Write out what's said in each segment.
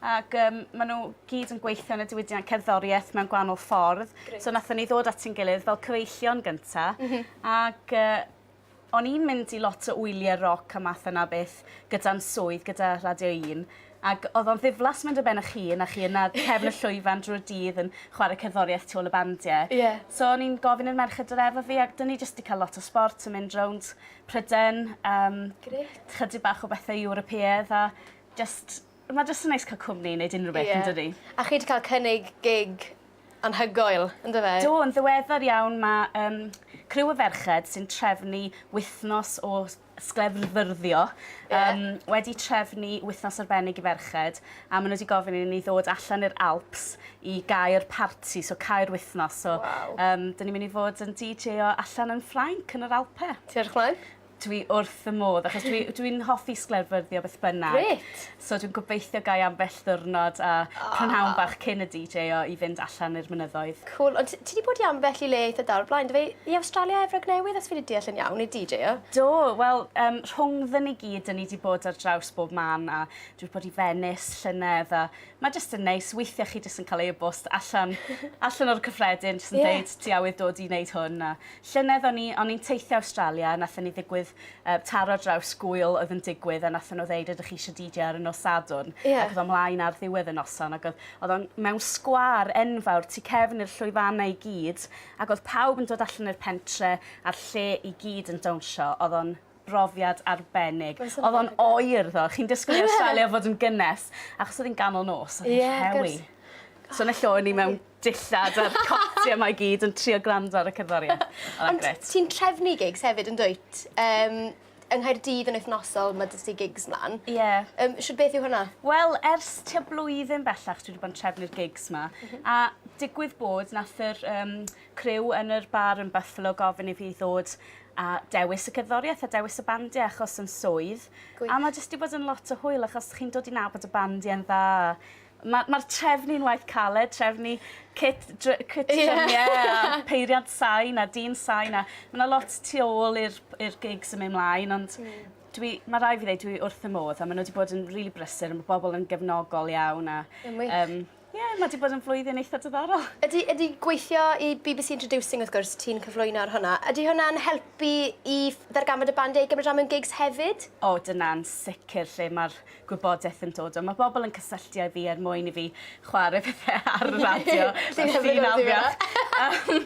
Ac yym ma' n'w gyd yn gweithio yn y diwydiant cerddorieth mewn gwahanol ffordd. Grêt. So nathon ni ddod at ein gilydd fel cyfeillion gynta. M-hm. Ac yy o'n i'n mynd i lot o wylie roc a math yna o beth gyda'n swydd gyda Radio Un ac o'dd o'n ddiflas mynd ar ben 'ych hun a chi yna ar cefn y llwyfan drwy'r dydd yn chware cerddorieth tu ôl y bandie. Ie. So o'n i'n gofyn i'r merched dod efo fi ac 'dyn ni jyst 'di ca'l lot o sbort yn mynd rownd Pryden yym... Grêt. ...chydig bach o bethe Ewropeaidd a Jyst, ma' jyst yn neis ca'l cwmni i neud unryw beth yndydi? Ie. A chi 'di ca'l cynnig gig anhygoel, yndyfe? Do, yn ddiweddar iawn ma' yym criw o ferched sy'n trefnu wythnos o s- sglefrfyrddio yym wedi trefnu wythnos arbennig i ferched a ma' n'w 'di gofyn i ni ddod allan i'r Alps i gau'r parti so cau'r wythnos so... Waw. ...yym 'dyn ni myn' i fod yn deejayo allan yn Ffrainc yn yr Alpe. Ti edrych mlaen? Dwi wrth fy modd achos dwi dwi'n hoffi sglefryddio beth bynnag. Grêt. So dwi'n gobeithio gai ambell ddiwrnod a prynhawn bach cyn y DJ o i fynd allan i'r mynyddoedd. Cŵl. Ond ti 'di bod i ambell i le eitha da o'r blaen do fe? I Awstralia, Efrog Newydd os fi 'di deall yn iawn i DJ-o? Do wel yym rhwngddon ni gyd 'dyn ni 'di bod ar draws bob man a dwi 'di bod i Fenis llynedd a ma' jyst yn neis weithie chi jyst yn ca'l e-bost allan allan o'r cyffredin jyst yn deud... Ie. ...ti awydd dod i neud hwn a Llynedd o'n i o'n i'n teithio Awstralia a nathon ni ddigwydd yy taro draws gŵyl oedd yn digwydd a nathon n'w ddeud ydych chi isio Dee Jay ar y nos Sadwrn? Ie. Ac o'dd o mlaen ar ddiwedd y noson ac o'dd o'dd o'n mewn sgwâr enfawr tu cefn i'r llwyfanna i gyd ac o'dd pawb yn dod allan i'r pentre a'r lle i gyd yn dawnsio o'dd o'n brofiad arbennig. Oedd o'n oer ddo. Chi'n disgwyl i Australia fod yn gynnes, achos oedd hi'n ganol nos, oedd hi'n rhewi. So yn y lle o'n i mewn dillad a'r coti yma i gyd yn trio gwrando ar y cerddoriaeth. Ond ti'n trefnu gigs hefyd yn dwyt? Um, yng Nghaerdydd yn wythnosol, mae dy gigs mlaen. Ie. Yeah. Um, Siwr beth yw hwnna? Wel, ers tua blwyddyn bellach dwi wedi bod yn trefnu'r gigs yma. Mm -hmm. A digwydd bod, nath yr um, criw yn yr bar yn Buffalo gofyn i fi ddod a dewis y cerddoriaeth a dewis y bandiau achos yn swydd. Gwych. A mae jyst wedi bod yn lot o hwyl achos chi'n dod i nabod y bandiau'n dda. Mae'r ma trefnu'n waith caled, trefnu cit, dr cit yeah. drymiau a peiriant sain a dyn sain a mae yna lot tu ôl i'r gigs yn mynd mlaen ond mm. dwi, mae rai fi ddweud dwi wrth y modd a maen nhw wedi bod yn rili really brysur a mae bobl yn gefnogol iawn a um, Ie, mae wedi bod yn flwyddyn eitha diddorol. Ydy, ydy gweithio i bbc Introducing wrth gwrs, ti'n cyflwyno ar hwnna, ydy hwnna'n helpu i ddarganfod y band eu gymryd rhan mewn gigs hefyd? O, dyna'n sicr lle mae'r gwybodaeth yn dod o. Mae bobl yn cysylltu â fi er mwyn i fi chwarae pethau ar y radio. Ti'n hyfryd am dweud hwnna.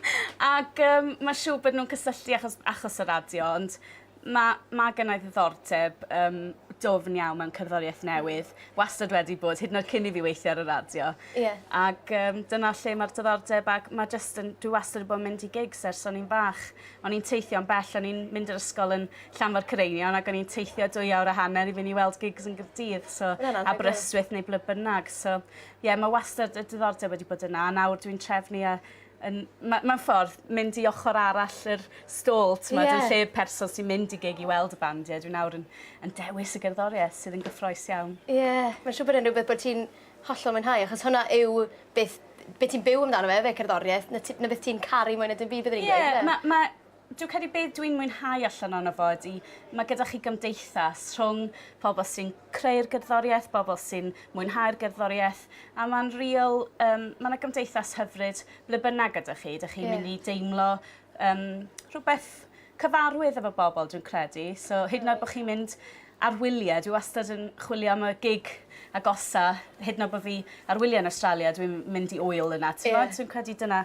Ac mae siŵr bod nhw'n cysylltu achos, achos y radio, ond Ma' ma' gynnai ddiddordeb yym dwfn iawn mewn cerddorieth newydd. Wastad wedi bod hyd yn oed cyn i fi weithio ar y radio. Ie. Ag yym dyna lle ma'r diddordeb ag ma' jyst yn dwi wastad 'di bo' yn mynd i gigs ers o'n i'n fach. O'n i'n teithio'n bell o'n i'n mynd i'r ysgol yn Llanfair Cyreinion ag o'n i'n teithio dwy awr a hanner i fyn' i weld gigs yn Gy'rdydd so... Ma' wnna'n anhygoel. ...Aberystwyth neu ble bynnag so ie ma' wastad y diddordeb wedi bod yna a nawr dwi'n trefnu a yn ma- mewn ffordd mynd i ochor arall yr stôl t'mod... Ie. ...yn lle person sy'n mynd i gig i weld y bandiau dwi nawr yn yn dewis y gerddorieth sydd yn gyffroes iawn. Ie mae'n siŵr bod e'n rhywbeth bod ti'n hollol mwynhau achos hwnna yw beth be' ti'n byw amdano fe efe cerddorieth 'na ti 'na beth ti'n caru mwy na dim byd byddwn i'n gweud. Ie ma' ma' Dwi'n credu beth dwi'n mwynhau allan ono fo ydi mae gyda chi gymdeithas rhwng pobl sy'n creu'r gerddoriaeth, bobl sy'n mwynhau'r gerddoriaeth, a mae'n real, um, mae yna gymdeithas hyfryd ble bynnag gyda chi. Dych chi'n yeah. mynd i deimlo um, rhywbeth cyfarwydd efo bobl, dwi'n credu. So, hyd yn oed bod chi'n mynd ar wyliau, dwi wastad yn chwilio am y gig agosa, hyd yn oed bod fi ar wyliau yn Australia, dwi'n mynd i oil yna. Ti'n yeah. Dwi'n credu dyna